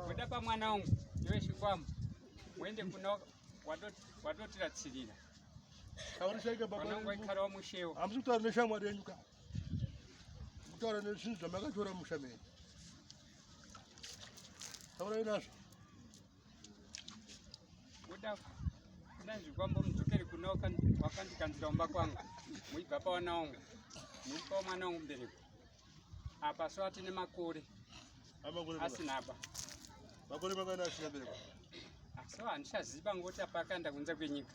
Kudapa mwana wangu iwe chikwambo muende kuna wadotira tsirira vanongoikarawo mushewo hamusi kutaura neshamwari yenyu ka mutaura nezvinhu zvamakatora musha menyu taurai nazvo ndazvikwambo mudzokere kuna wakandikanzira umba kwangu muibva pawana wangu muipawo mwana wangu mbereko apa so atine makore asinaba makore makana asina bereko so handichaziva ngoti apa akaenda kunze kwenyika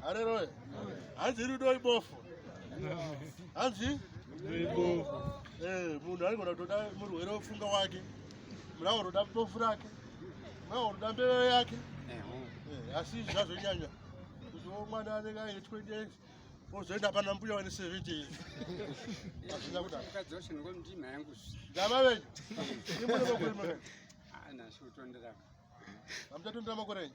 Haleluya. Hanzi rudo ibofu. Hanzi ibofu. Eh, munhu anogona kutoda murwere wofunga wake. Mulawo unoda bofu rake. Mulawo unoda mbeveve yake. Eh, asi zvazonyanya. Kuziwo mwana anenge aine 20 years. Ozoenda pana mbuya wani 70 years. Hazvina kudaro. Ukadzosha nokwa mtima yangu. Ndava venyu. Imwe nokwa kuri mwana. Ah, nasu tondera. Hamtatondera makore enyu.